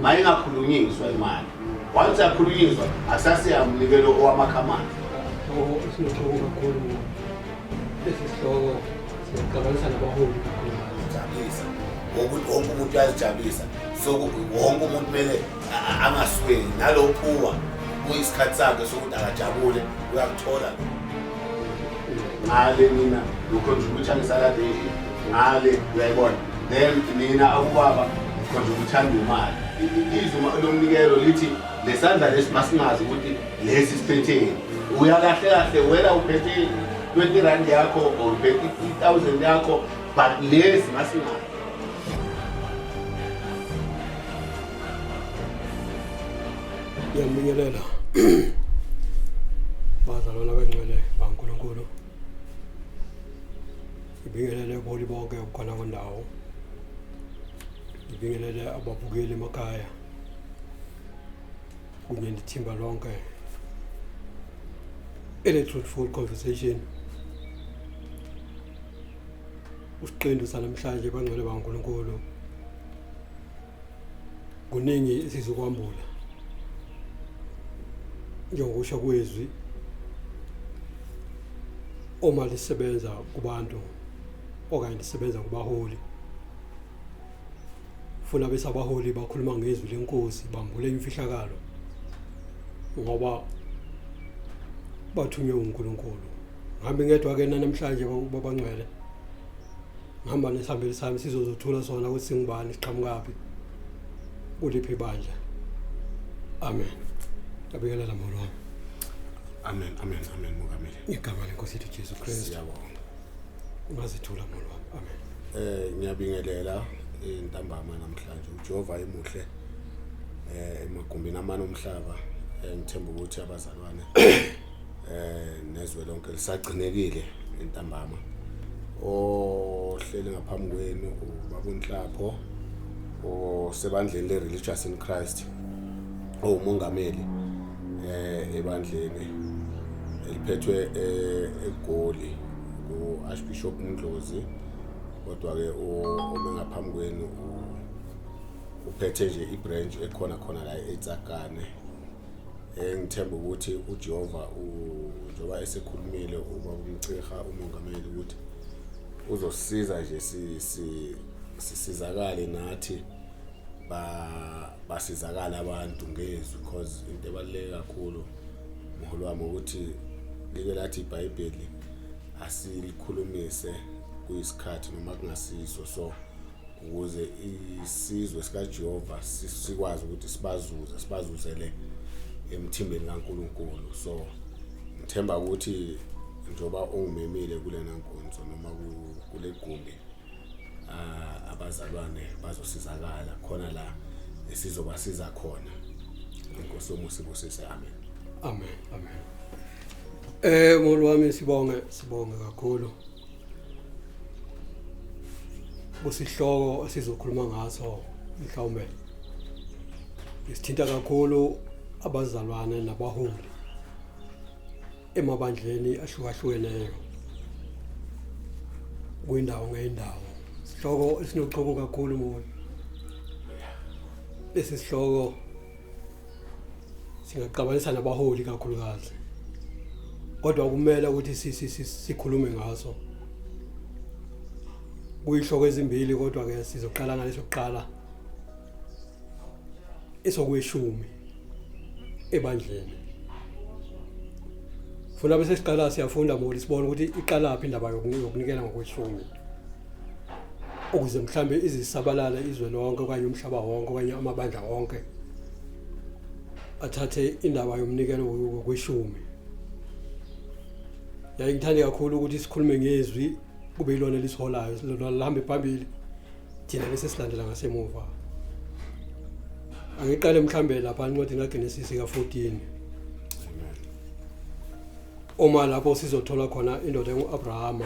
mayingakhulunyiswa imali once yakhulunyiswa akusasiyamnikelo owamakhamani sinohloko kakhulu lesi sihloko siyaxabanisa nabaholi kakhulu jabulisa wokuthi wonke umuntu uyazijabulisa so wonke umuntu kumele angasweli nalo phuwa kuyisikhathi sakhe sokuthi akajabule uyakuthola ngale mina ngikhonjulutsha ngisalade ngale uyayibona Then mina akubaba khonje ukuthanda imali. Izwi lomnikelo lithi lesandla lesi masingazi ukuthi lesi siphetheni. Uya kahle kahle wena uphethe 20 rand yakho or uphethe 3000 yakho but lesi masingazi. Ngiyambingelela. Bazalwana bangcwele baNkulunkulu. Ngibingelele kuholi bonke khona kwendawo. Ngibingelele ababukeli emakhaya kunye nethimba lonke ele-truthful conversation usiqendu sanamhlanje bangcwele bangunkulunkulu kuningi esizokwambula njengokusho kwezwi uma lisebenza kubantu okanye lisebenza kubaholi funa bese abaholi bakhuluma ngezwi lenkosi bambule imfihlakalo ngoba bathunywe uNkulunkulu ngihambe ngedwa ke namhlanje babangcwele ngihamba nesihambeli sami sizozothula sona ukuthi singubani siqhamukaphi kuliphi ibandla amen abikelela molo wami amen amen amen mongameli ngegama lenkosi yethu jesu kristu siyabonga ungazithula molo wami amen eh ngiyabingelela intambama namhlanje uJehova emuhle eh emagumbini amane omhlaba eh, ngithemba ukuthi abazalwane eh nezwe lonke lisagcinekile entambama ohleli ngaphambi kwenu ubabunhlapho osebandleni le-religious in christ owumongameli eh ebandleni eliphethwe eh, egoli ku-archbishop mndlozi kodwa-ke ome ngaphambi kwenu uphethe nje i-branch ekhona khona la etsakane Eh, ngithemba ukuthi uJehova njengoba esekhulumile uma kumchiha umongameli ukuthi uzosiza nje sisizakale nathi basizakale abantu ngezwi because into ebaluleke kakhulu mholo wami ukuthi like lathi ibhayibheli asilikhulumise kuyisikhathi noma kungasiso so ukuze isizwe sikaJehova sikwazi ukuthi sibazuze sibazuzele emthimbeni kaNkuluNkulu so ngithemba ukuthi njoba ungimemile kulena nkonzo noma kule gumbi ah, abazalwane bazosizakala khona la esizobasiza khona inkosi yomusa ibusise amen amen amen eh molwami sibonge sibonge kakhulu kusihloko esizokhuluma ngaso mhlawumbe isithinta kakhulu abazalwane nabaholi emabandleni ahlukahlukeneyo kwindawo ngeyindawo sihloko esinochoko kakhulu moya lesi sihloko singaxabanisa nabaholi kakhulukazi kodwa kumele ukuthi sikhulume ngaso kuyihloko ezimbili kodwa ke sizoqala ngaleso kuqala esokweshumi ebandleni funa bese siqala siyafunda moli sibona ukuthi iqalaphi indaba yokunikela ngokweshumi ukuze mhlambe izisabalala izwe lonke okanye umhlaba wonke okanye amabandla wonke athathe indaba yomnikelo wokweshumi yaye ngithande kakhulu ukuthi sikhulume ngezwi kube yilona lisiholayo lihambe phambili thina bese silandela ngasemuva angiqale mhlambe lapha incwadi kaGenesis ka-14 uma lapho sizothola khona indoda engu-Abrahama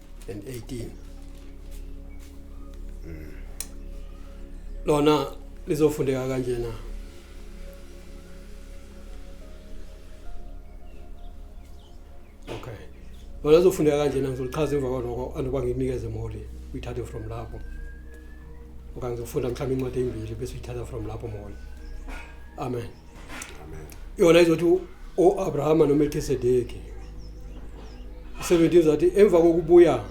and 18 mm. lona lizofundeka kanjena okay lona lizofundeka kanjena ngizolichaza emva kwaloko anoba nginikeze moli uyithathe from lapho okanye ngizofunda mhlawumbe incwadi eyimbili bese uyithatha from lapho moli amen yona izothi o-abrahama nomelkisedeki u-17 zathi emva kokubuya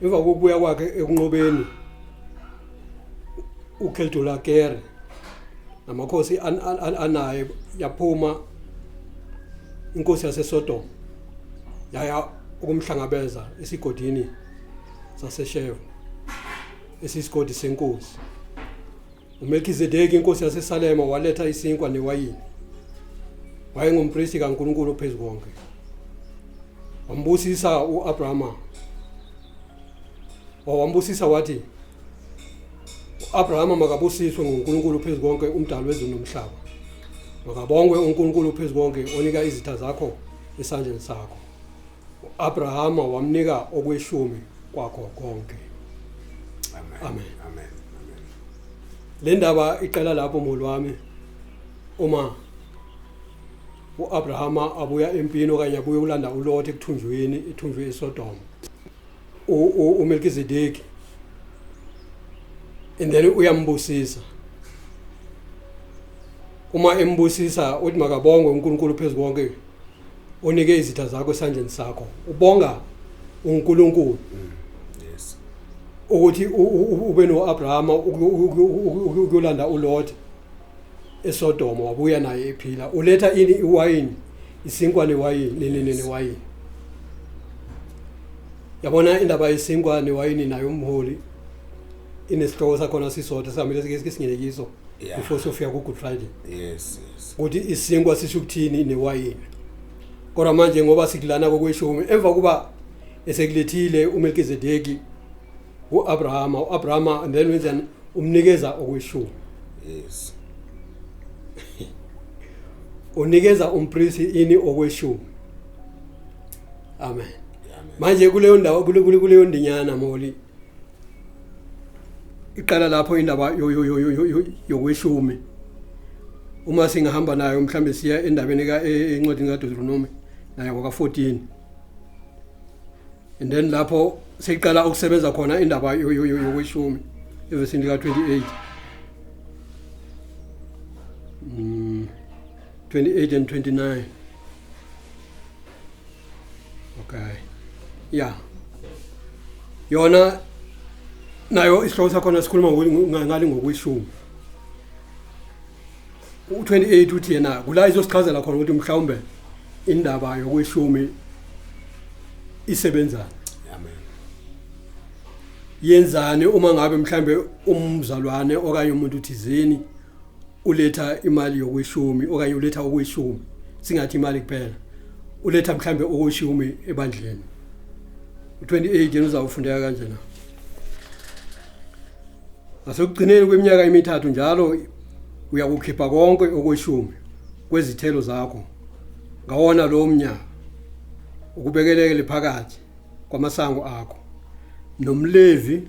emva kokubuya kwakhe ekunqobeni ukeltulakere namakhosi anaye yaphuma inkosi yasesodoma yaya ukumhlangabeza esigodini sasesheva esiyisigodi senkosi uMelkizedeki inkosi yaseSalema waletha isinkwa newayini wayengumpristi kaNkulunkulu ophezu konke wambusisa uAbrahama wawambusisa wathi uAbrahama makabusiswe nguNkulunkulu ophezu konke umdali wezulu nomhlaba makabongwe uNkulunkulu ophezu konke onika izitha zakho esandleni sakho U-Abrahama wamnika okweshumi kwakho konke. Amen. Amen. Amen. Amen. Le ndaba iqala lapho mholi wami uma u-Abrahama abuya empini okanye abuye ulanda uLothi ekuthunjweni ethunjwe eSodoma. uMelkizedeki and then uyambusisa uma embusisa uthi makabongwe uNkulunkulu phezu konke unike izitha zakho esandleni sakho ubonga uNkulunkulu mm. yes ukuthi ube noAbrahama ukuyolanda uLot eSodoma wabuya naye ephila uletha ini iwayini isinkwa newayini nenene newayini yabona indaba yesinkwa newayini nayo umholi inesihloko sakhona sisodwa sihamile sike singenekiso Yeah. before sofika ku-good friday yes yes ukuthi isinkwa sisho ukuthini newayini kodwa manje ngoba sikulana kokweshumi emva kuba esekulethile umelkizedeki u-abrahama u-abrahama and then wenzani umnikeza okweshumi yes unikeza umprisi ini okweshumi amen amen manje kuleyo ndawo kule- kule- kuleyo ndinyana moli iqala lapho indaba yokweshumi uma singahamba nayo mhlambe siya endabeni ka e, encwadini kaDeuteronomy nayo ngoka14 and then lapho seyiqala ukusebenza khona indaba yokweshumi evesini lika 28 mm 28 and 29 okay ya yona nayo isihloko sakhona sikhuluma ngale ngokweshumi u-28 uthi yena kula izosichazela khona ukuthi mhlawumbe indaba yokweshumi isebenzani yenzani uma ngabe mhlambe umzalwane okanye umuntu thizeni uletha imali yokweshumi okanye uletha okweshumi singathi imali kuphela uletha mhlambe okweshumi ebandleni 28 yena uzawufundeka kanje na asekugcineni kweminyaka emithathu njalo uyakukhipha konke okweshumi kwezithelo zakho ngawona lo mnyaka ukubekelekele phakathi kwamasango akho nomlevi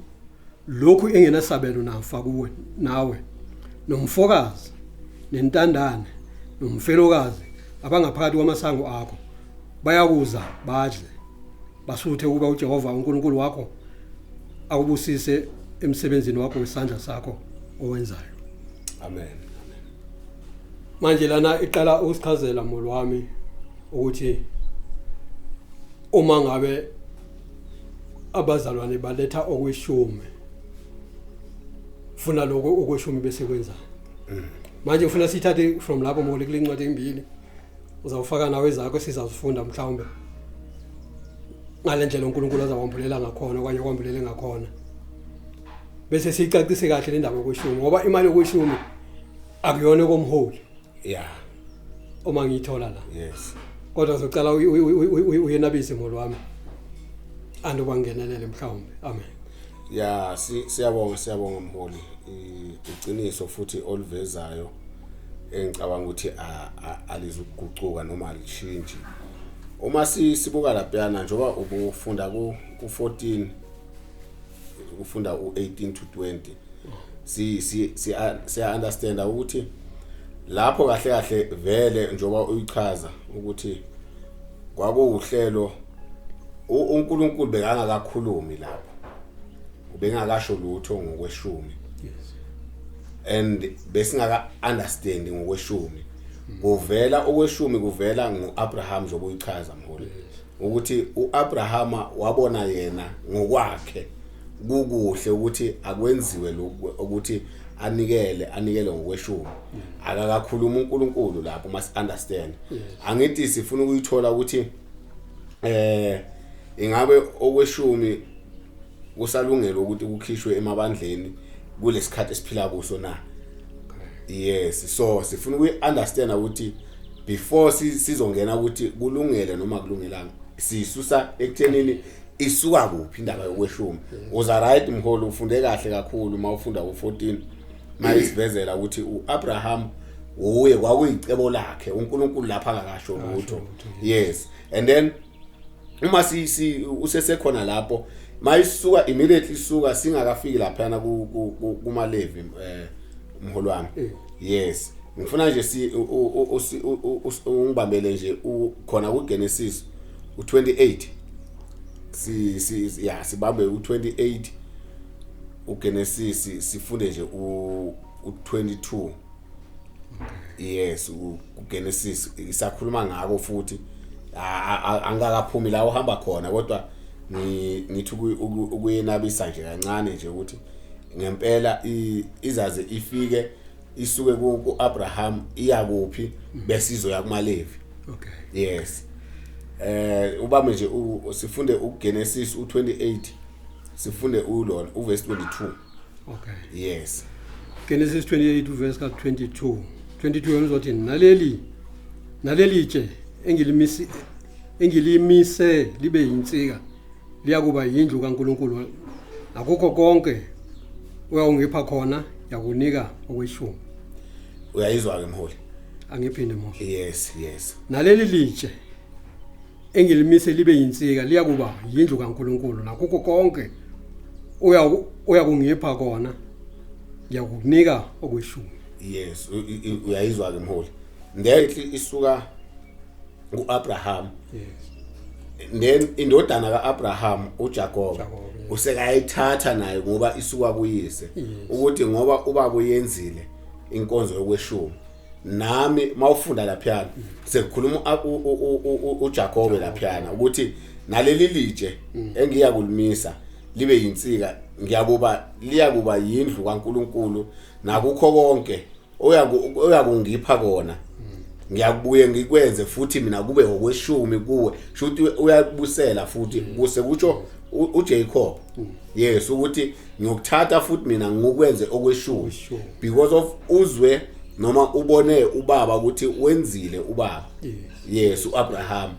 lokhu engenasabelo nafa kuwe nawe nomfokazi nentandane nomfelokazi abangaphakathi kwamasango akho bayakuza badle basuthe ukuba uJehova uNkulunkulu wakho akubusise emsebenzini wakho wesandla sakho owenzayo amen manje lana iqala ukusichazela molo wami ukuthi uma ngabe abazalwane baletha okweshumi funa lokho okweshumi bese kwenza manje ufuna sithathe from lapho mole kule ncwadi embili uzawufaka nawe zakho sizazifunda mhlawumbe ngale ndlela uNkulunkulu azawambulela ngakhona okanye kwambulele ngakhona bese sicacise kahle le ndaba yokweshumi ngoba imali yokweshumi akuyona komholi yeah uma ngiyithola la yes kodwa zocela uyenabise molo wami anduba ngenelele mhlawumbe amen ya siyabonga siyabonga mholi iqiniso futhi olivezayo engicabanga ukuthi alizukugucuka noma alishintshi uma sibuka lapha njengoba ubufunda ku 14 ukufunda u18 to 20 si si si understand ukuthi lapho kahle kahle vele njoba uyichaza ukuthi kwakuwuhlelo uNkulunkulu bekangakakhulumi lapho ubengakasho lutho ngokweshumi yes and besingaka understand ngokweshumi kuvela okweshumi kuvela ngoAbraham zokuyichaza mholi ukuthi uAbrahama wabona yena ngokwakhe kukuhle ukuthi akwenziwe lokhu ukuthi anikele anikele ngokweshumi akakakhuluma uNkulunkulu lapho mas understand angithi sifuna ukuyithola ukuthi eh ingabe okweshumi kusalungele ukuthi kukhishwe emabandleni kulesikhathi esiphila kuso na yes so sifuna ukuyi understand ukuthi before sizongena ukuthi kulungele noma kulungelanga sisusa ekuthenini isuka kuphi indaba yokweshumi uza right mholo ufunde kahle kakhulu uma ufunda u14 mayisivezela ukuthi uAbraham uye kwakuyicebo lakhe uNkulunkulu lapha akakasho lutho yes and then uma si, si usesekhona lapho mayisuka immediately suka singakafiki lapha na kuma levi eh umholi wami eh. yes ngifuna nje si ungibambele nje khona ku Genesis u28 si si ya sibambe u28 uGenesis sifunde nje u22 yes uGenesis isakhuluma ngako futhi angakaphumi la uhamba khona kodwa ngithi ukuyenabisa nje kancane nje ukuthi ngempela izaze ifike isuke ku Abraham iya kuphi bese izoya kumaLevi okay yes eh ubame nje sifunde uGenesis u28 sifunde ulona uverse 22 okay yes Genesis 28 verse ka 22 22 yomzothi naleli naleli tshe engilimisi engilimise libe yinsika liyakuba yindlu kaNkuluNkulu akukho konke uyawungipha khona yakunika okweshumi uyayizwa ke mholi angiphinde mholi yes yes naleli litshe engilimise libe yinsika liyakuba yindlu kaNkuluNkulu nakukho konke uya uya kungipha kona ngiyakukunika okweshumi yes uyayizwa ke mholi ngenhli isuka kuAbraham yes then indodana kaAbraham uJakob usekayithatha naye ngoba isuka kuyise ukuthi ngoba ubaba uyenzile inkonzo yokweshumi nami mawufunda laphiyana sekukhuluma uJakobe laphiyana ukuthi naleli litshe mm. engiya kulimisa libe yinsika ngiyakuba liyakuba yindlu kaNkuluNkulu nakukho konke oyakungipha kona mm. ngiyakubuye ngikwenze futhi mina kube okweshumi kuwe shuthi uyakubusela futhi mm. kuse kutsho uJacob mm. yes ukuthi ngiyokuthatha futhi mina ngikwenze okweshumi because of uzwe noma ubone ubaba ukuthi wenzile ubaba yes uAbraham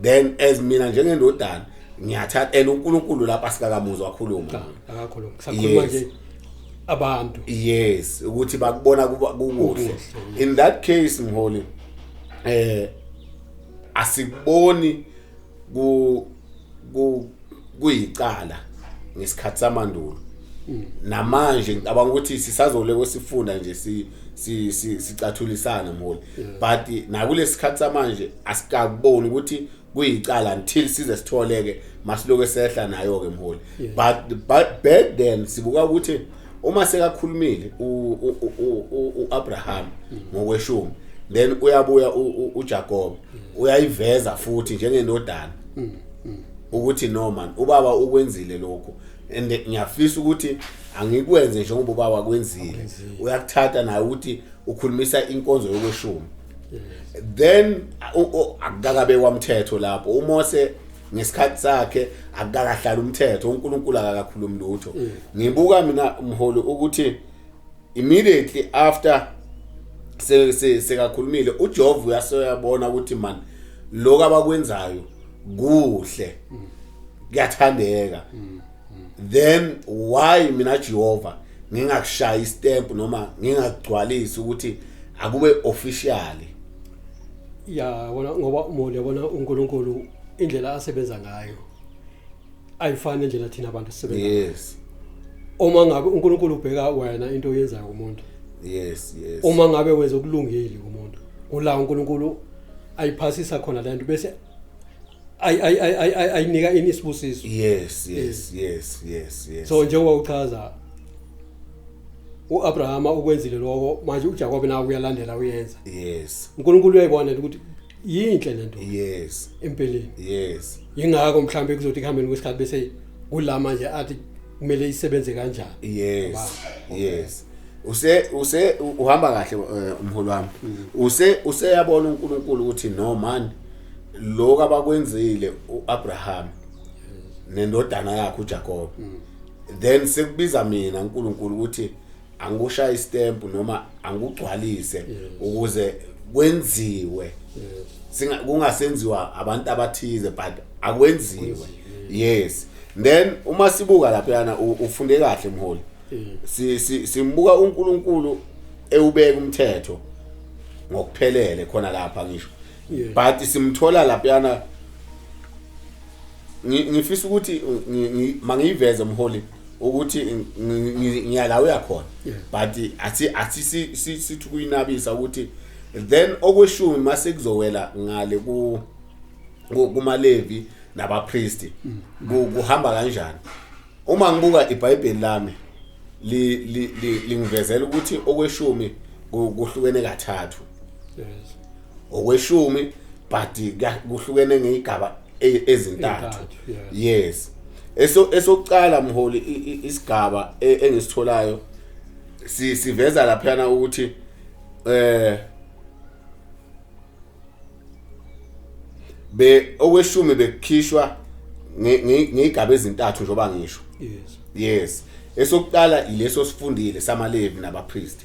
then as mina njengendodana ngiyathatha and uNkulunkulu lapha sikakamuzwa wakhuluma ah, akakhuluma sakhuluma nje abantu yes ukuthi bakubona kukuhle in that case mholi eh asikuboni ku ku kuyicala ngesikhathi samandulo mm. namanje ngicabanga ukuthi sisazole kwesifunda nje si sicathulisana mholi mm. but nakulesikhathi samanje asikaboni ukuthi kuyicala until size sitholeke masiloke sehla nayo ke mholi but but back then sibuka ukuthi uma sekakhulumile uAbraham mm. ngokweshumi then uyabuya uJakobe uyayiveza futhi njengendodana mm, mm. ukuthi no man ubaba ukwenzile lokho and ngiyafisa ukuthi angikwenze njengoba ubaba kwenzile uyakuthatha naye ukuthi ukhulumisa inkonzo yokweshumi then akakabe wamthetho lapho uMose ngesikhathi sakhe akakahlala umthetho uNkulunkulu akakakhulumi lutho mm. ngibuka mina umholi ukuthi immediately after se se sekakhulumile uJovu uyasoyabona ukuthi man lokho abakwenzayo kuhle kuyathandeka then why mina Jehova ngingakushaya istamp noma ngingagcwalisi ukuthi akube officially ya wona ngoba umuntu yabona uNkulunkulu indlela asebenza ngayo ayifane nje nathina abantu sibe yes uma ngabe uNkulunkulu ubheka wena into oyenzayo kumuntu yes yes uma ngabe wenza okulungile kumuntu kula uNkulunkulu ayiphasisa khona lento bese ay ay ay ay ayinika ini isibusiso yes yes yes yes yes so njengoba uchaza uAbrahama ukwenzile lokho manje uJakobe nawe uyalandela uyenza yes uNkulunkulu uyayibona ukuthi yinhle lento yes empeleni yes ingakho mhlambe kuzothi kuhambeni kwesikhathi bese kula manje athi kumele isebenze kanjani yes yes use use uhamba kahle eh, umholi wami mm. use useyabona uNkulunkulu ukuthi no man lokho abakwenzile uAbraham nendodana yakhe uJacob mm. then sekubiza mina uNkulunkulu ukuthi angikushaye istamp noma angigcwalise ukuze kwenziwe singa kungasenziwa abantu abathize but akwenziwe yes then uma sibuka lapha yana u- ufunde kahle mholi si si- simbuka uNkulunkulu ewubeka umthetho ngokuphelele khona lapha ngisho Yeah. but simthola lapha yana ngi- ngifisa ukuthi ngi- ngi- mangiyiveze mholi ukuthi ngiyala uyakhona but athi athi sithi kuyinabisa ukuthi then okweshumi mase kuzowela ngale ku kumalevi nabapriest mm. kuhamba kanjani uma ngibuka iBhayibheli lami lingivezela ukuthi okweshumi kuhlukene kathathu yes ngokweshumi but kuhlukene ngeyigaba e, ezintathu yes eso esokuqala mholi isigaba e, engisitholayo siveza laphana ukuthi eh be okweshumi bekukhishwa ngeyigaba ezintathu njoba ngisho yes yes esokuqala ileso sifundile samalevi nabapriest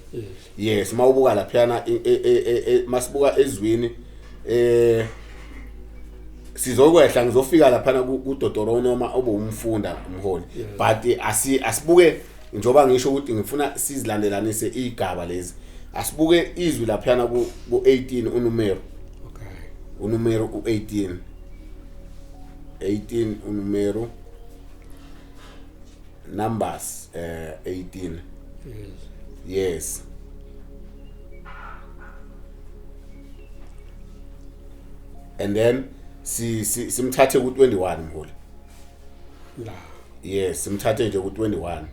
yes mawubuka laphana e, e, e, masibuka ezwini eh sizokwehla ngizofika laphana kudodoro noma obumfunda umholi but asi asibuke njoba ngisho ukuthi ngifuna sizilandelanise igaba lezi asibuke izwi laphana ku 18 unumero okay unumero u 18 18 unumero numbers uh, eh, 18 yes and then si simthathe ku 21 mholi la yes simthathe nje ku 21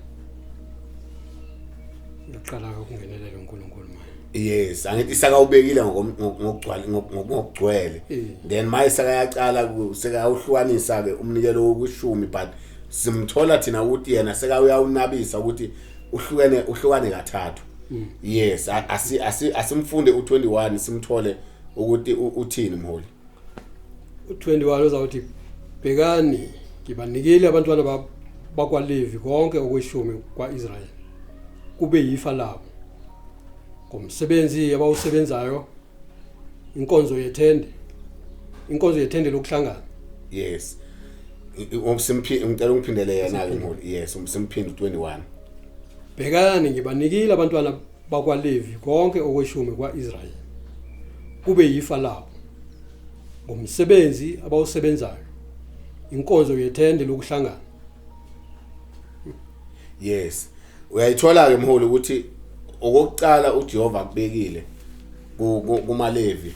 uqala ukungenelela uNkulunkulu manje yes angithi isaka ubekile ngokugcwala ngokugcwele eh. then maye saka yaqala seka uhlukanisa ke umnikelo wokushumi but simthola thina ukuthi yena seka uyawunabisa ukuthi uhlukene uhlukane kathathu hmm. yes asimfunde u21 simthole ukuthi uthini mholi u-21 uzawuthi bhekani ngibanikile abantwana bakwalevi konke okweshumi kwa-israyeli kube yifa labo ngomsebenzi abawusebenzayo inkonzo yethende inkonzo yethende lokuhlangana yes umsimphindi ngicela ungiphindele yena ke mholi yes umsimphindi 21 bhekani ngibanikile abantwana bakwaLevi konke okweshumi kwa-Israyeli kube yifa labo ngomsebenzi abawusebenzayo inkonzo yethende lokuhlangana yes uyayithola ke mholi ukuthi okokuqala uJehova akubekile kumaLevi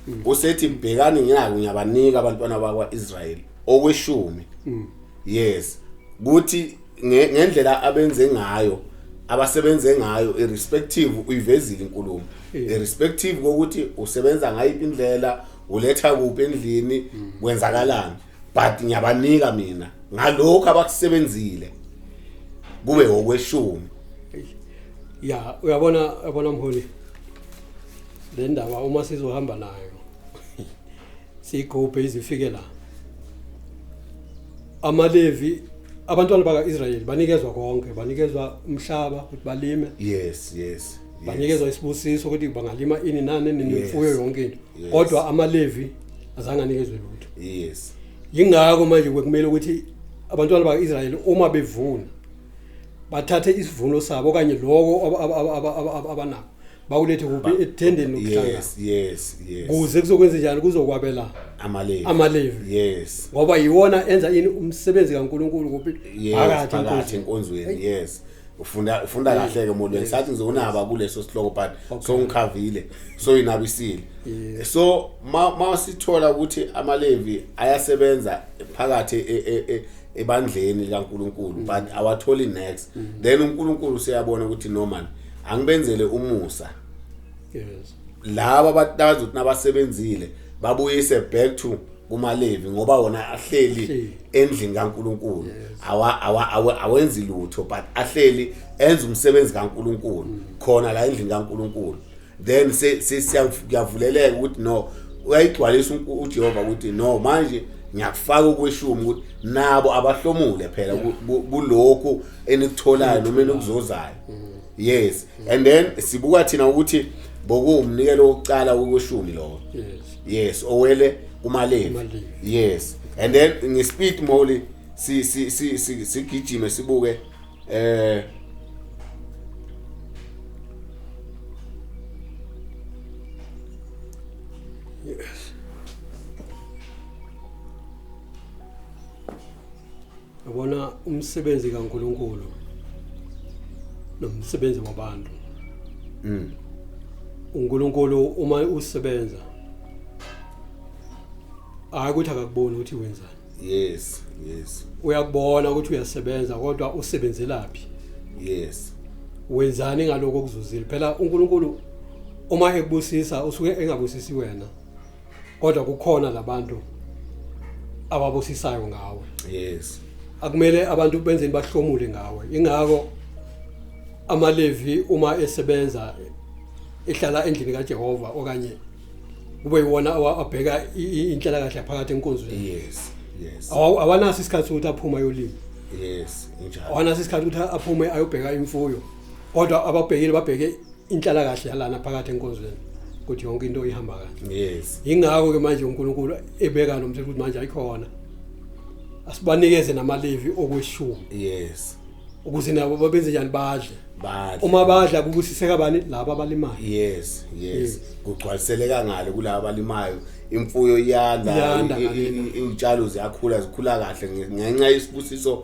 mm. usethi bhekani ngiyako ngiyabanika abantwana bakwaIsrael okweshumi mm. yes kuthi ngendlela abenze ngayo abasebenze ngayo irrespective uyivezile inkulumo irrespective kokuthi usebenza ngayiphi indlela uletha kuphi endlini mm. kwenzakalani but ngiyabanika mina ngalokho abakusebenzile kube okweshumi ya uyabona yabona mholi le ndaba uma sizohamba nayo siyikhuphe izifike la amaLevi abantwana bakaIsrayeli banikezwa konke banikezwa umhlaba ukuthi balime yes yes banikezwa isibusiso ukuthi bangalima ini nani nemfuyo yonke into kodwa amaLevi azange anikezwe lutho yes yingakho manje kwekumele ukuthi abantwana bakaIsrayeli uma bevuna bathathe isivuno sabo okanye lokho abanako bawulethe kuphi Ba- ethendeni lokuhlangana yes yes yes kuze kuzokwenza njani kuzokwabela amalevi amalevi. yes ngoba yiwona enza ini umsebenzi kaNkuluNkulu kuphi yes phakathi phakathi enkonzweni. enkonzweni yes ufunda ufunda kahle ke molweni sathi ngizonaba kuleso sihloko but so ngikhavile so inabisile so ma ma sithola ukuthi amalevi ayasebenza phakathi e- e- e- ebandleni likaNkuluNkulu but awatholi next then uNkuluNkulu siyabona ukuthi no man angibenzele umusa yes laba abathi nabasebenzile babuyise back to kumalevi ngoba wona ahleli endlini kaNkuluNkulu awa awenzi lutho but ahleli enza umsebenzi kaNkuluNkulu mm. khona la endlini kaNkuluNkulu then siyavuleleka ukuthi no uyayigcwalisa uJehova ukuthi no manje ngiyakufaka ukweshumi ukuthi nabo abahlomule phela kulokhu enikutholayo noma enikuzozayo mm. yes mm. and then sibuka thina ukuthi bokuwumnikelo wokucala wokweshumi lowo yes yes owele kumalevi yes and then ngespeed moli si si si si sigijime sibuke eh Yabona umsebenzi kaNkuluNkulu nomsebenzi wabantu. Mm. uNkulunkulu uma usebenza hayi ukuthi akakuboni ukuthi wenzani Yes, yes. uyakubona ukuthi uyasebenza kodwa usebenzelaphi Yes. wenzani ngaloko okuzuzile phela uNkulunkulu uma ekubusisa usuke engabusisi wena kodwa kukhona labantu ababusisayo ngawe yes akumele abantu benzeni bahlomule ngawe ingakho amalevi uma esebenza ehlala endlini kaJehova okanye kube yiwona abheka inhlala kahle phakathi enkonzweni yes yes awanaso isikhathi sokuthi aphuma ayolima yes injalo awanaso isikhathi ukuthi aphume ayobheka imfuyo kodwa ababhekile babheke inhlalakahle yalana phakathi enkonzweni ukuthi yonke into ihamba kahle yes ingakho ke manje uNkulunkulu ebeka lo mthetho ukuthi manje ayikhona asibanikeze namalevi okweshumi yes ukuze nabo babenze njani badle badle uma badla kubusiseka bani laba abalimayo yes yes kugcwaliseleka ngalo kulabo abalimayo imfuyo iyanda Iyanda i- i- ngakini. i- iy'tshalo ziyakhula zikhula kahle nge- ngenxa yesibusiso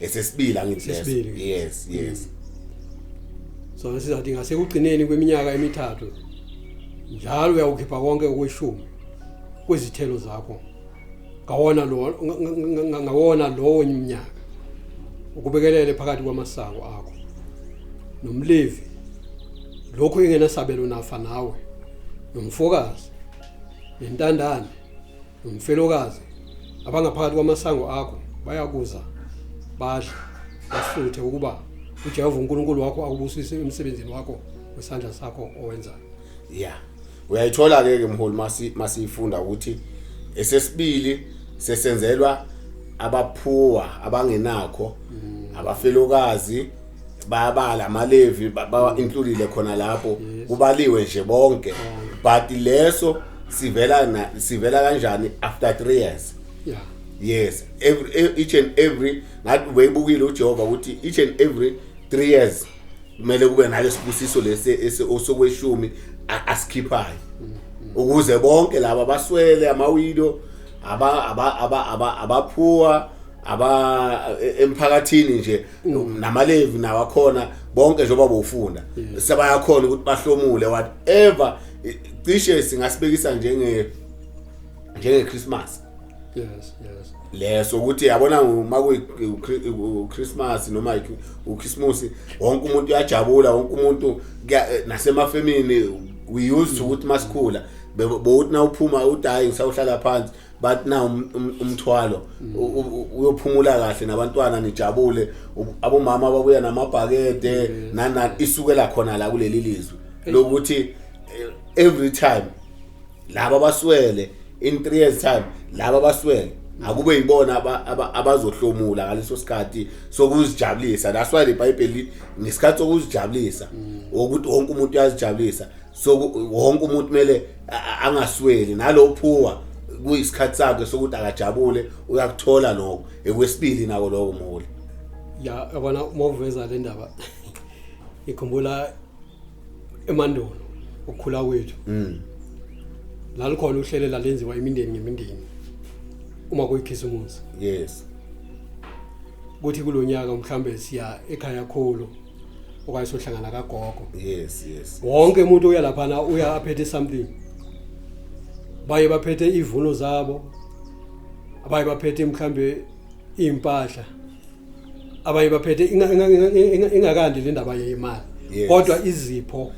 esesibili angithi leso Sesibili. yes yes so ngisizathi ngasekugcineni kweminyaka emithathu njalo uyawukhipha konke okweshumi kwezithelo zakho ngawona lo nga- nga- nga- ngawona lowo mnyaka ukubekelele phakathi kwamasango akho nomlevi lokho engenasabelo nafa nawe nomfokazi nentandane Mfelokazi, abangaphakathi kwamasango akho bayakuza badle basuthe ukuba uJehova uNkulunkulu wakho akubusise emsebenzini wakho wesandla sakho owenzayo. Yeah. Uyayithola ke ke mholi masi masifunda ukuthi esesibili sesenzelwa abaphuwa abangenakho mm. abafelokazi bayabala amalevi bawa-includile khona lapho kubaliwe nje bonke but leso sivela na sivela kanjani after 3 years yeah yes every e- each and every ngathi ubeyibukile uJehova ukuthi each and every 3 years kumele kube nalesibusiso lesi ese- osokweshumi a- asikhiphayo ukuze bonke laba baswele amawido aba aba aba aba abaphuwa aba e- emphakathini nje Mm. namalevi nawo akhona bonke njengoba bofunda mm. sebayakhona ukuthi bahlomule whatever cishe singasibekisa njenge njenge Christmas yes yes leso ukuthi yabona uma ku Christmas noma u Christmas wonke umuntu uyajabula wonke umuntu nasemafemini we used ukuthi masikhula bowuthi na uphuma udayi ngisawuhlala phansi but now um, um, umthwalo mm. uyophumula kahle nabantwana nijabule abomama babuya namabhakede mm. nana isukela khona la kuleli lizwe lokuthi eh, every time laba baswele in 3 years time laba baswele mm. akube yibona abazohlomula ngaleso sikhathi sokuzijabulisa that's why the bible ngesikhathi sokuzijabulisa ukuthi wonke umuntu uyazijabulisa so wonke umuntu kumele angasweli nalo phuwa kuyisikhathi sakhe sokuthi akajabule uyakuthola lokho ekwesibili nako lokho mholi ya yabona uma uveza le ndaba ikhumbula emandulo ukukhula kwethu mm lalikhona uhlelo lalenziwa imindeni ngemindeni uma kuyikhisimusi yes kuthi kulonyaka mhlambe siya ekhaya khulu okanye sohlangana kagogo yes yes wonke umuntu uya laphana uya aphethe something baye baphethe ivuno zabo abaye baphethe mhlambe impahla abaye baphethe inga- inga- inga- inga- ingakandi le ndaba yemali Yes. kodwa izipho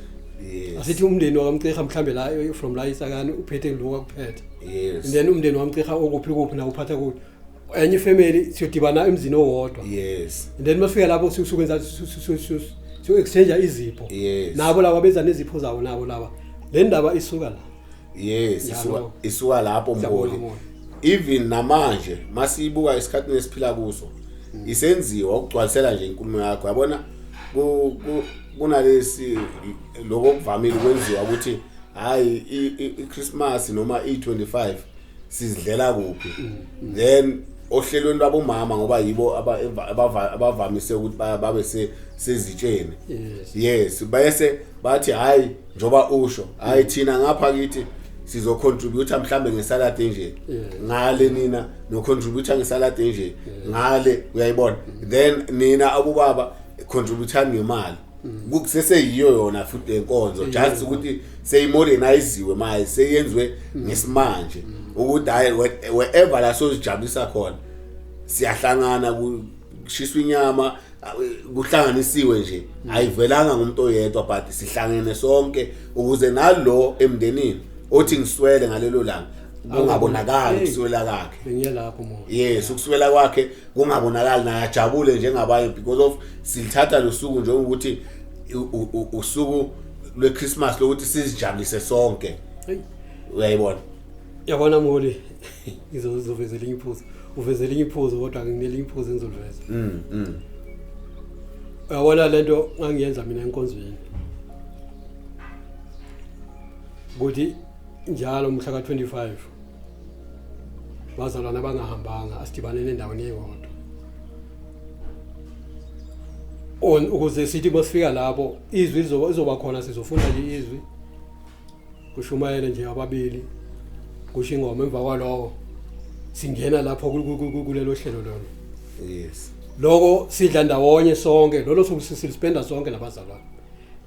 yes asithi umndeni wakamceha mhlambe la eh, from la isakani uphethe lokhu akuphethe yes then umndeni wamceha okuphi kuphi na uphatha kuphi enye ifamily siyodibana emzini owodwa yes and then mafika lapho sukwenza so exchange izipho yes nabo laba benza nezipho zawo nabo laba le ndaba isuka la yes isuka isuka lapho mboli even namanje masiyibuka isikhathi nesiphila kuso mm. isenziwa ukugcwalisela nje inkulumo yakho yabona kunalesi lokho kuvamile kwenziwa ukuthi hayi iChristmas noma i25 sizidlela kuphi then ohlelweni lwabomama ngoba yibo aba- abava- abavamise ukuthi ba- babe se- sezitsheni Yes. yes bese bathi hayi njoba usho hayi thina ngapha kithi sizocontributor mhlambe ngesalad enje Yeah. ngale nina nocontributor ngesalad enje ngale uyayibona then nina abobaba contributor ngemali kuseseyiyo yona futhi lenkonzo just ukuthi seyimoderniziwe manje seyenziwe ngesimanje ukuthi hayi wherever la sozijabulisa khona siyahlangana kushiswa inyama kuhlanganisiwe nje ayivelanga ngumuntu oyedwa but sihlangene sonke ukuze nalo emndenini othi ngiswele ngalelo langa kungabonakali ukuswela kwakhe ngiyelapho mona yes ukuswela kwakhe kungabonakali naye ajabule njengabanye because of silithatha losuku njengokuthi usuku lweChristmas lokuthi sizijabulise sonke uyayibona yabona mholi ngizoveza elinye iphuzu uveza elinye iphuzu kodwa nginelinye iphuzu engizoliveza mm, mm. uyabona le nto ngangiyenza mina enkonzweni ukuthi njalo mhla ka-25 bazalwane abangahambanga asidibaneni endaweni eyodwa on ukuze sithi masifika lapho izwi lizoba khona sizofunda nje izwi kushumayele nje ababili kusho ingoma emva kwalowo singena lapho kulelo hlelo lona yes lokho sidla ndawonye sonke lolo suku sispenda sonke nabazalwane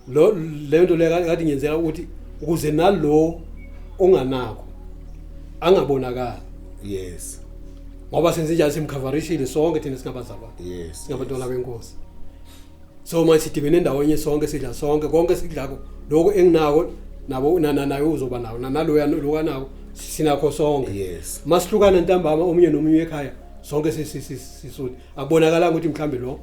lo le nto leyo kade ngiyenzela ukuthi ukuze nalo onganakho angabonakala yes ngoba senze njalo simkhavarishile sonke thina singabazalwane yes singabantwana benkosi so manje sidibene ndawonye sonke sidla sonke konke sidlako lokho enginako nabo nana naye uzoba nawo naloya lokanako sinakho sonke yes masihlukana ntambama omunye nomunye ekhaya sonke sisisuthi akubonakalanga ukuthi mhlambe lo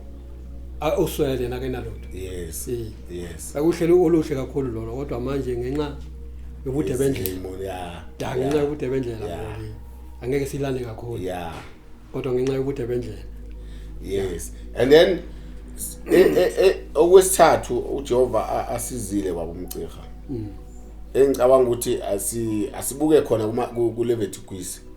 a- uswele yena kenalutho yes Eh. yes akuhlelo oluhle kakhulu lona kodwa manje ngenxa yobude bendlela Izimo, yeah da ngenxa yobude bendlela Yeah. manje, angeke silale kakhulu yeah kodwa ngenxa yobude bendlela yes and then s- e- e- e- okwesithathu uJehova a- asizile baba umcirha engicabanga ukuthi asi asibuke khona kuma ku- kuLevitikwisi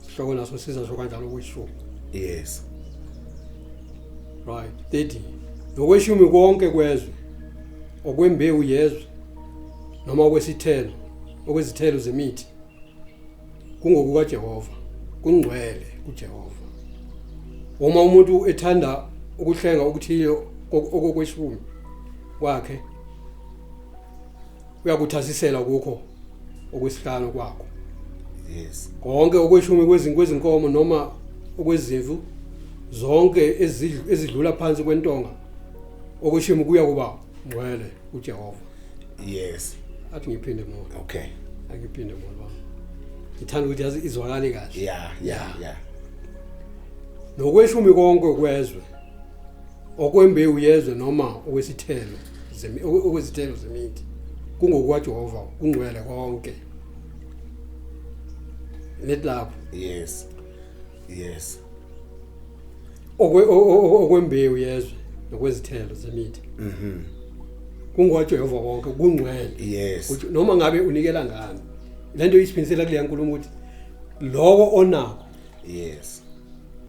Sihloko naso siza sho kanjalo kwishumi. Yes. Right. 30. Nokweshumi konke kwezwe okwembewu yezwe noma okwesithelo okwezithelo zemithi kungokuka Jehova kungcwele kuJehova uma umuntu ethanda ukuhlenga okuthile okokweshumi kwakhe uyakuthasisela kukho okwesihlanu kwakho yes konke okweshumi kwezinko ezinkomo noma okwezimvu zonke ezidl- ezidlula phansi kwentonga okweshumi kuya kuba ngcwele uJehova yes athi ngiphinde mona okay angiphinde mona baba ngithanda ukuthi yazi izwakale kahle yeah yeah yeah nokweshumi konke kwezwe okwembewu yezwe noma okwesithelo okwezithelo zemithi kungokwajehova kungcwele konke let lapho yes yes okwe okwembewu yezwe nokwezithelo zemithi mhm kungwajehova konke kungcwele yes ukuthi noma ngabe unikela ngani lento isiphindisela kule nkulumo ukuthi lokho onako yes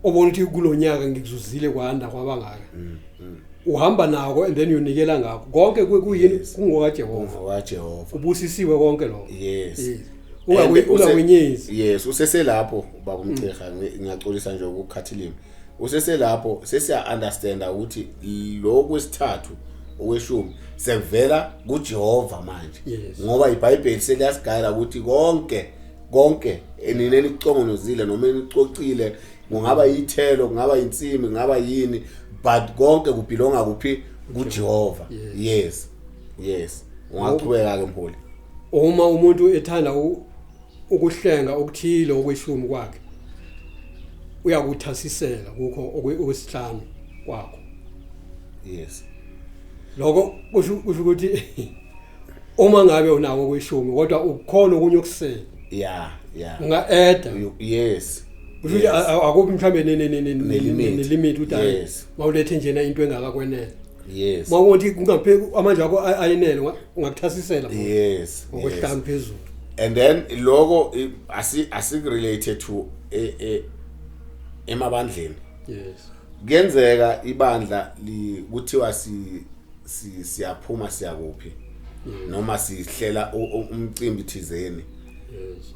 obona ukuthi kulonyaka ngikuzuzile kwanda kwabangaka mm, mm. uhamba nako and then uyonikela ngakho konke kuyini kungoka Jehova wa Jehova ubusisiwe konke lokho yes ungakwenyezi yes useselapho baba umceha mm. ngiyaxolisa nje ukukhathilima useselapho sesiya understanda ukuthi lo kwesithathu okweshumi sekuvela kuJehova manje ngoba iBhayibheli seliyasigayela ukuthi konke konke enina enicongonozile noma enicocile kungaba yithelo kungaba insimi kungaba yini but konke kubelonga kuphi kuJehova yes yes ungaqhubeka ke mholi uma umuntu ethanda ukuhlenga okuthile okweshumi kwakhe uyakuthasisela kukho okwesihlanu kwakho yes lokho kusho ukuthi uma ngabe unako kwishumi kodwa ukukhona okunye okusele yeah yeah unga add yes ukuthi akuphi mhlambe nelimit uthi mawulethe njena into engakakwenele yes mawuthi kungaphe amandla akho ayinele ungakuthasisela yes ngokuhlanga phezulu and then lokho asi asi related to e, e, emabandleni yes kuyenzeka ibandla kuthiwa si siyaphuma siyakuphi mm. noma sihlela umcimbi thizeni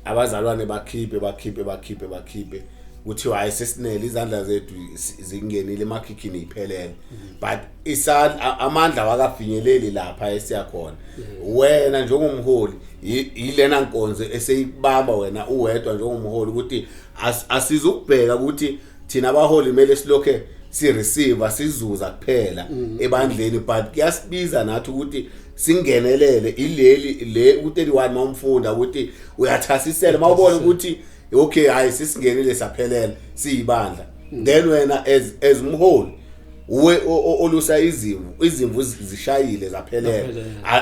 abazalwane bakhiphe bakhiphe bakhiphe bakhiphe kuthiwa hayi sesinele izandla zethu zingenile emakhikhini iphelele but isandla amandla wakafinyeleli lapha esiyakhona wena njengomholi yilena nkonzo eseyikubamba wena uwedwa njengomholi ukuthi asizukubheka ukuthi thina abaholi kumele silokhe si receive sizuza kuphela mm. ebandleni but kuyasibiza nathi ukuthi singenelele ileli le u31 mawumfunda ukuthi uyathasisela mawubona ukuthi okay hayi sisingenile saphelela siyibandla mm. then wena as as umholi uwe olusa izimvu izimvu zishayile zaphelela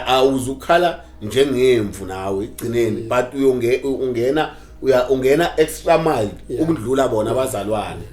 awuzukhala njengemvu nawe igcineni mm. but uyongena uya ungena extra mile yeah. ukudlula bona yeah. abazalwane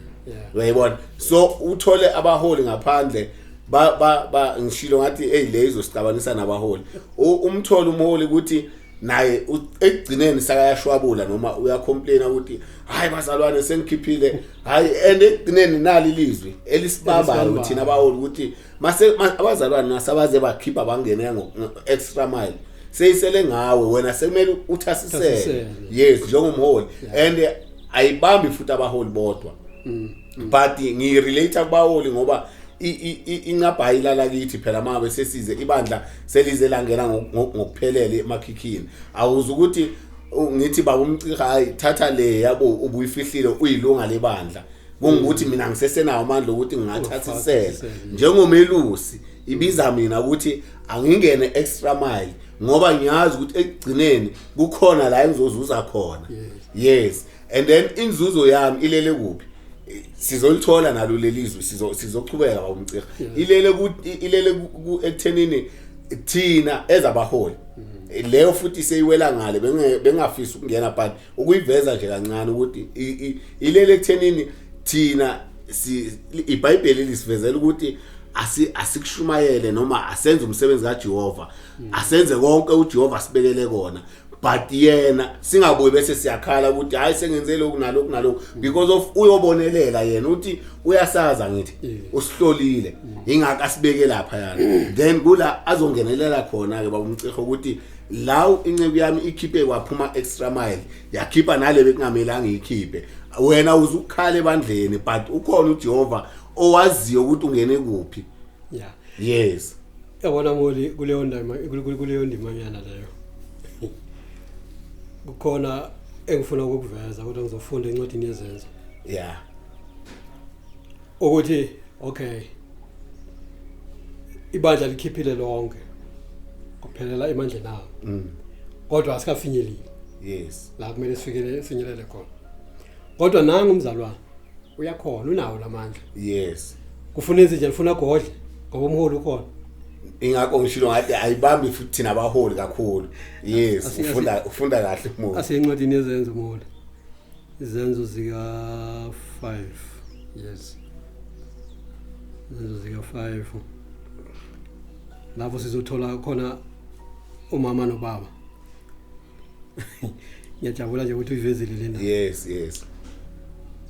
uyayibona yeah. so uthole abaholi ngaphandle ba ba ba ngishilo ngathi hey le izosixabanisa nabaholi umtholo umholi ukuthi naye ekugcineni sakayashwabula noma uyacomplain ukuthi hayi bazalwane sengikhiphile hayi and ekugcineni nali lizwi elisibabayo thina bawoli ukuthi mase abazalwane nasabaze bakhipha bangene ngo extra mile seyisele ngawe wena sekumele uthasisele yes njengomholi and ayibambi futhi abaholi bodwa mm. but ngi relate kubaholi ngoba incabha ilala kithi phela mabe sesize ibandla selize langena ngokuphelele emakhikhini awuza ukuthi ngithi baba umciha hayi thatha le yabo ubuyifihlile uyilunga lebandla kungukuthi mina ngisesenawo amandla okuthi ngingathathisela njengomelusi ibiza mina ukuthi angingene extra mile ngoba ngiyazi ukuthi ekugcineni kukhona la engizozuza khona yes and then inzuzo yami ilele kuphi sizolithola nalo lelizwe sizo sizochubeka bawumcira ilele ku ilele ku ekuthenini thina ezabaholi mm-hmm. leyo futhi seyiwela ngale bengafisa ukungena but ukuyiveza nje kancane ukuthi ilele ekuthenini thina si iBhayibheli lisivezela ukuthi asi asikushumayele noma asenze umsebenzi kaJehova hmm. asenze konke uJehova sibekele kona but yena singabuyi bese siyakhala ukuthi hayi sengenze lokhu nalokhu nalokhu hmm. because of uyobonelela yena uthi uyasaza ngithi hmm. usihlolile ingaka sibeke lapha yana then kula azongenelela khona ke babumciho ukuthi law inceku yami ikhiphe waphuma extra mile yakhipha nale bekungamelanga ikhiphe wena uzukhala ebandleni but ukhona uJehova owaziyo ukuthi ungene kuphi yeah yes yabona moli kuleyo ndima kuleyo ndimanyana leyo kukhona engifuna ukukuveza kodwa ngizofunda incwadi yezenzo yeah ukuthi okay ibandla likhiphile lonke kuphelela emandleni awo mm. kodwa asikafinyeleli yes la kumele sifikele sinyelele khona kodwa nangu umzalwane uyakhona unawo lamandla yes kufuna izinja lifuna godle ngoba umholi ukhona ingakho ngishilo ngathi ayibambi futhi thina abaholi kakhulu yes ufunda ufunda kahle umuntu asencwadini yezenzo umholi izenzo zika-5 yes izenzo zika-5 lapho sizothola khona umama nobaba ngiyajabula nje ukuthi uyivezile lena yes yes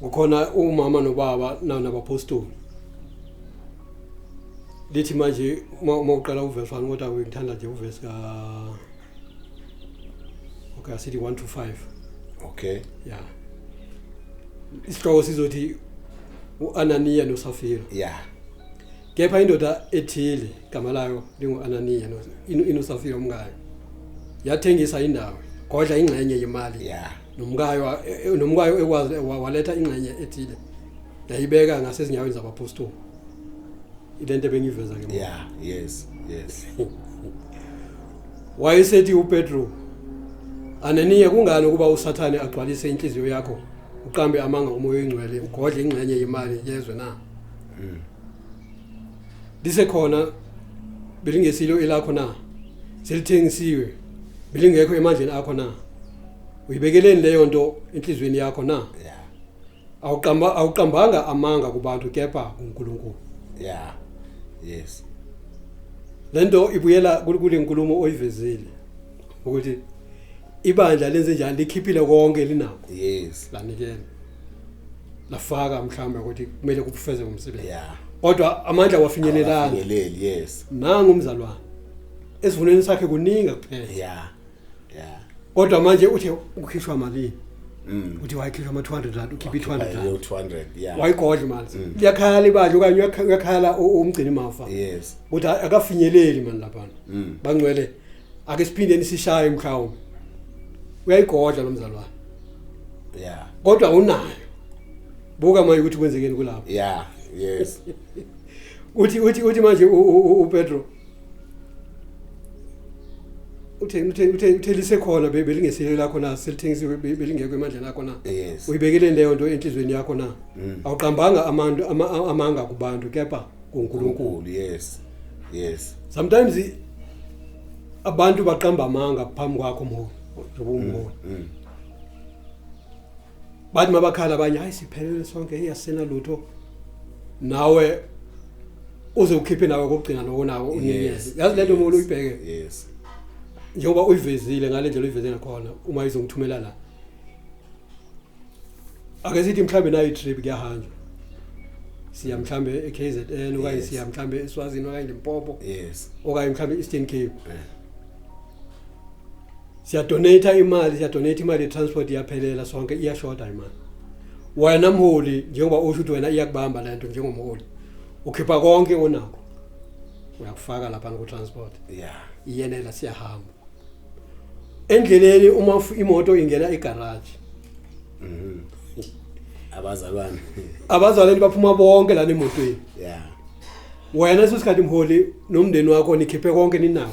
kukhona umama nobaba nabapostoli lithi manje uma uqala uverse 1 kodwa ngithanda nje uverse ka okay asithi 1 to 5 okay yeah isihloko sizothi uAnania noSafira yeah kepha indoda ethile igama layo linguAnania no inosafira umkayo yathengisa indawo kodla ingxenye yemali yeah nomkayo e, e, nomkayo ekwazi waletha ingxenye ethile yayibeka ngasezinyaweni zabapostoli ilento ebengiveza ke yeah yes yes Wayesethi uPetru, Ananiya kungani ukuba uSathane agcwalise inhliziyo yakho uqambe amanga umoya oyingcwele ugodle ingxenye yemali yezwe na? Mm. Lisekhona belingesilo elakho na? Selithengisiwe belingekho emandleni akho na? Uyibekeleni leyo nto enhlizweni yakho na? Yeah. awuqamba awuqambanga amanga kubantu kepha kuNkulunkulu yeah yes lento ibuyela kule nkulumo oyivezile ukuthi ibandla lenze njani likhiphile konke linakho yes lanikela lafaka mhlawumbe ukuthi kumele kubufeze umsebenzi yeah kodwa amandla wafinyelelanga yes nangu umzalwane esivuneni sakhe kuningi kuphela yeah yeah kodwa manje uthe ukhishwa malini Mm. uthi wayikhishwa ama 200 rand ukhipha i 200 Wakhipha rand i- 200 yeah wayigodla manje Mm. liyakhala ibandla okanye uyakha- uyakhala u- umgcini mafa yes ukuthi a- akafinyeleli mani laphana Mm. bangcwele ake siphindeni sishaye mhlawumbe uyayigodla lo mzalwane yeah kodwa unayo buka manje ukuthi kwenzekeni kulapho yeah yes uthi uthi uthi manje u- u- u- upetro uthe uthe uthe uthe lisekhona be- belingesilo lakho na selithengisiwe be- belingekho emandleni akho na Yes. uyibekele leyo nto enhlizweni yakho na Mm. awuqambanga amantu ama- a- amanga kubantu kepha kunkulunkulu Unkulu yes. Yes. sometimes i- abantu baqamba amanga phambi kwakho mholi njengoba umholi Mm. bathi mabakhala abanye hayi siphelele sonke hey asina lutho nawe uze ukhiphe nawe kokugcina nokonako unikeze yazi lento umuntu uyibheke yes njengoba uyivezile ngale ndlela uyiveze ngakhona uma izongithumela la ake sithi mhlambe nayo trip kuyahanjwa siya mhlambe eKZN okanye siya mhlambe eSwazini okanye eMpopo yes okanye mhlambe eEastern Cape siyadonata imali siyadonata imali ye-transport iyaphelela sonke iyashoda imali wena mholi njengoba usho ukuthi wena iyakubamba le nto njengomholi ukhipha konke onakho uyakufaka lapha ku-transport yeah. iyenela siyahamba endleleni uma imoto ingena egaraji mm -hmm. abazalwane abazalwane baphuma bonke lana emotweni yeah wena sesikhathi mholi nomndeni wakho nikhiphe konke ninako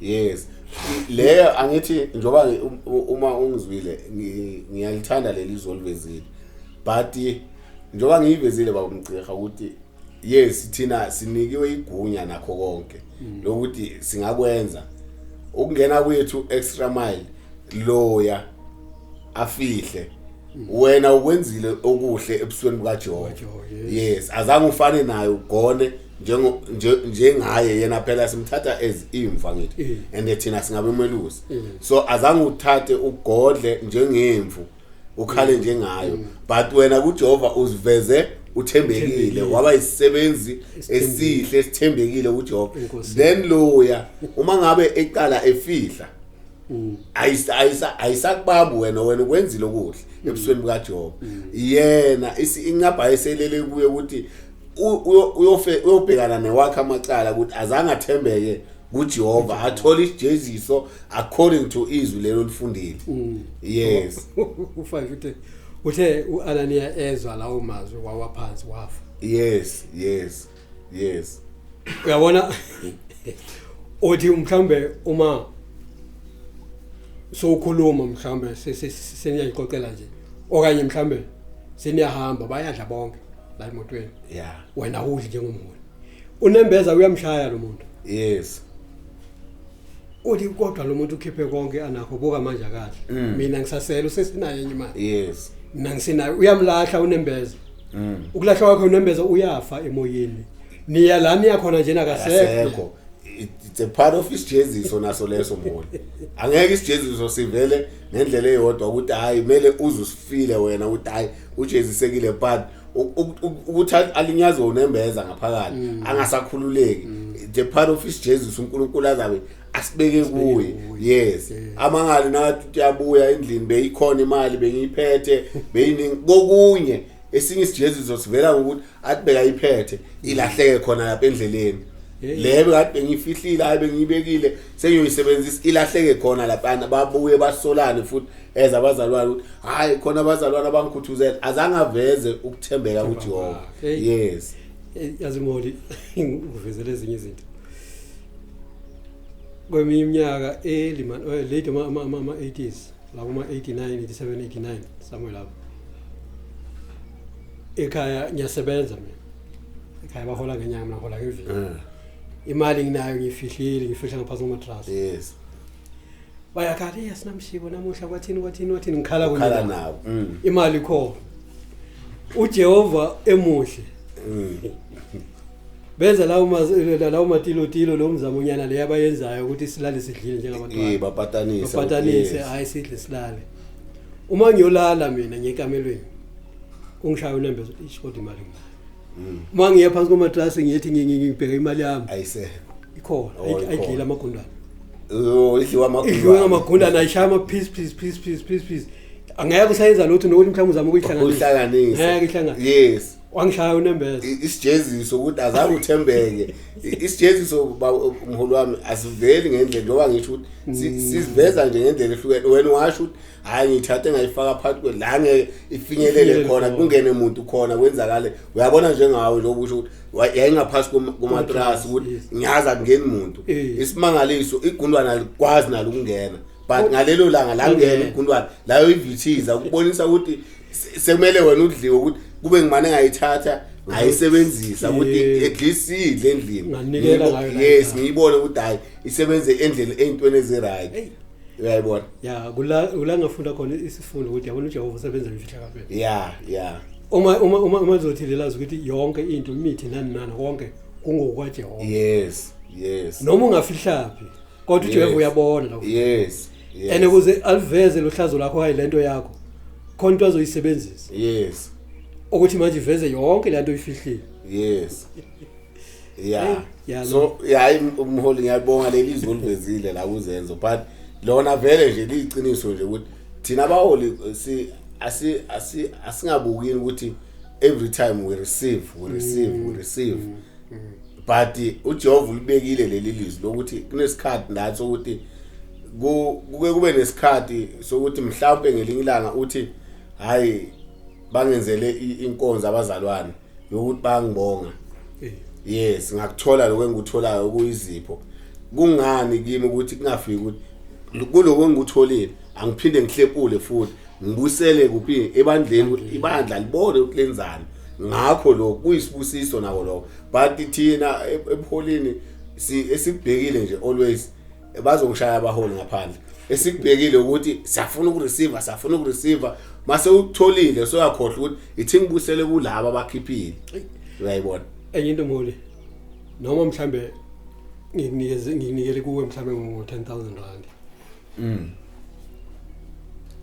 yes leyo angithi njengoba uma ungizwile ngiyalithanda leli izwi olivezile but njengoba ngiyivezile baba mgcirha ukuthi yes thina sinikiwe igunya nakho konke mm. lokuthi singakwenza ukungena kwethu extra mile loya afihle mm. wena ukwenzile okuhle ebusweni bukaJehova yes azange ufane naye ugone njengo njengaye yena phela simthatha as imfa ngithi mm. and thina singabe umelusi mm. so azange uthathe ugodle njengemvu ukhale mm. njengayo but wena kuJehova uziveze uthembekile waba isisebenzi esihle esithembekile kuJehova then loya uma ngabe eqala efihla ayisa ayisa ayisakubabu wena wena ukwenzile okuhle ebusweni bukaJehova yena incaba eselele kuye ukuthi uyobhekana newakhe amacala ukuthi azange athembeke kujehova athole isijeziso according to izwi lelo lifundile mm. yes ufake ukuthi uthe u-ananiya ezwa lawo mazwi wawa phansi wafa yes yes yes uyabona othi mhlambe uma sokhuluma mhlambe seniyayixoxela nje okanye mhlambe seniyahamba bayadla bonke la emotweni yeah wena udli njengomholi unembeza uyamshaya lo muntu yes uthi kodwa lo muntu ukhiphe konke anakho buka manje akahle Mm. mina ngisasela usesinayo enye imali yes mina ngisinayo uyamlahla unembeza mm ukulahla kwakhe unembeza uyafa emoyeni niya la niya khona njena kasekho asekho It- it's a part of isijeziso naso leso mholi angeke isijeziso sivele ngendlela eyodwa ukuthi hayi kumele uze usifile wena ukuthi hayi ujezisekile but ukuthi alinyazwe unembeza ngaphakathi mm. angasakhululeki mm. the part of his jesus unkulunkulu azabe asibeke kuye yes amangali nathi uyabuya endlini beyikhona imali bengiyiphethe beyiningi kokunye esinye isijeziso sivela ngokuthi athi bekayiphethe ilahleke khona lapha endleleni le bekade bengiyifihlile hayi bengiyibekile sengiyoyisebenzisa ilahleke khona laphana babuye basolane futhi eza abazalwane ukuthi hayi khona abazalwane abangikhuthuzela azange aveze ukuthembeka kuJehova yes eh, yazi moli ngivezela ezinye izinto kweminye iminyaka early man eh, late ama ama ama 80s la kuma 89 87 89 somewhere lapho ekhaya ngiyasebenza mina ekhaya bahola ngenyanga mina hola ngevini eh. imali nginayo ngiyifihlile ngifihla ngaphansi komatrasi yes bayakhala yes namshibo namuhla kwathini kwathini wathini ngikhala kunye khala nabo. nabo Mm. imali khona uJehova emuhle Mm. benza lawo mazi- la- lawo matilotilo lo mzamonyana le abayenzayo ukuthi silale sidlile Eh, njengabantwana bapatanisa bapatanise yes. hayi sidle silale uma ngiyolala mina ngekamelweni ungishaya unembeza ukuthi ish kodwa imali nginayo uma ngiya phansi komatrasi ngiyethi ngibheka imali yami ayisekho ikhona Oh, ikhona. ayidlile amagundane Oh, idliwa amagundane. idliwe ngamagundane ayishaya ama-piece piece piece piece piece piece angeke usayenza lutho nokuthi mhlawumbe uzama ukuyihlanganisa Uhlanganise. ngeke ihlanganise Yes. wangishaya unembeza I- isijeziso ukuthi azange uthembeke I- isijeziso ba- mholi wami asiveli ngendlela njengoba ngisho ukuthi si- siziveza nje ngendlela ehlukene wena washo ukuthi hayi ngithathe ngayifaka phakathi kwe la ngeke ifinyelele khona kungene umuntu khona kwenzakale uyabona njengawe lokho kusho ukuthi yayingaphasi kumatrasi ukuthi ngiyazi akungeni muntu eh. isimangaliso igundwana likwazi nalo ukungena but oh. ngalelo langa la ngene igundwana layo ivithiza ukubonisa ukuthi sekumele wena udliwe ukuthi kube ngimane ngayithatha ngayisebenzisa ukuthi at least idle endlini yes ngiyibone ukuthi hayi isebenze endlini eyintweni eziright uyayibona ya kula kula ngafunda khona isifundo ukuthi yabona uJehova usebenza ngefihlakalo ya ya uma uma uma uma zothi lelazi ukuthi yonke into imithi nani nani konke kungokwa Jehova yes yes noma ungafihlaphi kodwa uJehova uyabona lokho yes yes ene kuze aliveze lohlazo lakho hayi lento yakho khona into azoyisebenzisa yes ukuthi manje iveze yonke lento oyifihlile yes yeah yeah so hayi umholi ngiyabonga leli izwi olivezile la kuzenzo but lona vele nje liyiqiniso nje ukuthi thina abaholi eh, si asi asi asingabukini ukuthi every time we receive we receive we receive mm, mm, mm. but eh, uJehova ulibekile leli lizwi lokuthi kunesikhathi nathi ukuthi kuke kube nesikhathi sokuthi mhlawumbe ngelinye ilanga uthi hayi bangenzele inkonzo abazalwane yokuthi bangibonga eh. yes ngakuthola lokho engikutholayo okuyizipho kungani kimi ukuthi kungafiki ukuthi kuloko engikutholile angiphinde ngihlepule futhi ngibusele kuphi ebandleni ukuthi ibandla libone ukuthi lenzani ngakho lokho kuyisibusiso nako lokho but thina e-, ebuholini si esibhekile nje always bazongishaya abaholi ngaphandle esikubhekile ukuthi siyafuna ukureceive siyafuna ukureceive mase utholile soyakhohle ukuthi ithi ngibusele kulabo abakhiphile uyayibona enye into mholi noma mhlambe nginikeze nginikele kuwe mhlambe ngo 10000 rand mm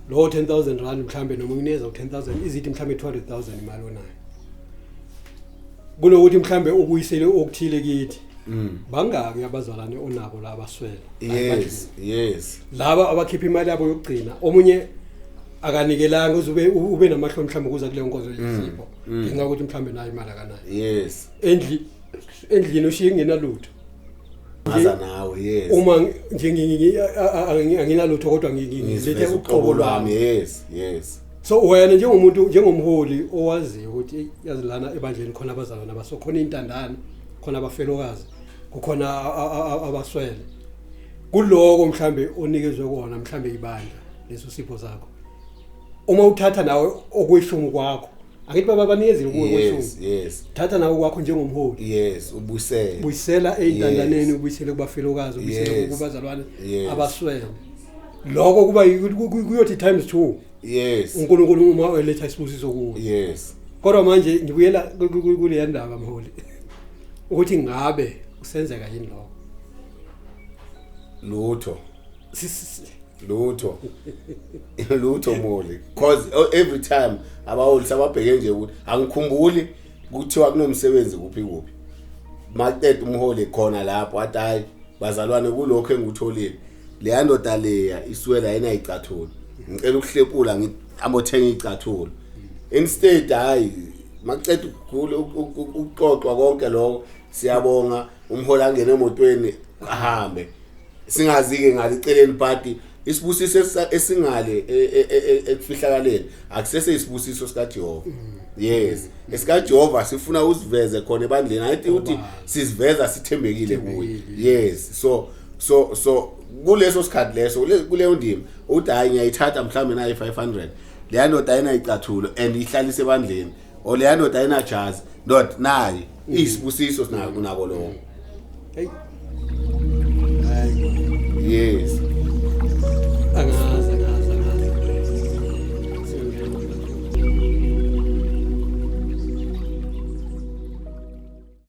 lo 10000 rand mhlambe noma ngineza u 10000 izithi mhlambe 200000 imali onayo kunokuthi mhlambe ubuyisele okuthile kithi Mm. bangaki abazalwane onabo la abaswele yes yes laba abakhipha imali yabo yokugcina omunye akanikelanga uze ube ube namahloni mhlawumbe ukuza kuleyo nkonzo yesipho ngenxa yokuthi mhlawumbe nayo imali akanayo yes endli endlini ushiye kungenalutho ngaza nawe yes uma ngi- nje ngi- ngi- a- a- a- nginalutho kodwa ngi- ngi- ngilethe Ngiziveza uqobo lwami yes yes so wena njengomuntu njengomholi owaziyo ukuthi yazi lana ebandleni khona abazalwana baso khona intandane khona abafelokazi kukhona abaswele kuloko mhlambe onikezwe kona mhlambe ibandla leso sipho sakho uma uthatha nawe okweshumi kwakho angithi baba banikezile kuwe kweshumi yes thatha nawe kwakho njengomholi yes ubusela buyisela eintandaneni ubuyisele kubafelokazi ubuyisele kubazalwane abaswele lokho kuba yi- ku- ku- kuyothi times two yes unkulunkulu uma eletha isibusiso kuwo yes kodwa manje ngibuyela ku- ku- ku- kuleya ndaba mholi ukuthi ngabe kusenzeka yini lokho lutho Si- si- si- lutho lutho moli cause oh, every time abaholi sababheke nje ukuthi angikhumbuli kuthiwa kunomsebenzi kuphi kuphi maqeda umholi khona lapho athi hayi bazalwane kulokho engikutholile leya ndoda leya iswela yena icathula ngicela ukuhlepula ngiyamothenga icathula instead hayi maqeda ukuxoxwa konke lokho siyabonga umholi angene emotweni ahambe singazike ngaliceleni party isibusiso esingale e, e, e, ekufihlakaleni akusese isibusiso sikaJehova mm. yes esikaJehova sifuna usiveze khona ebandleni ayithi uthi siziveza sithembekile kuye yes so so so kuleso sikhathi leso kuleyo ndima uthi hayi ngiyayithatha mhlawumbe nayi 500 leya ndoda ayinayicathula and ihlalise ebandleni o leya ndoda ayinajazi ndoda nayo iyisibusiso sinako nako lokho Hey. Hayi. yes Angazi, angazi, angazi. Sengiyabona.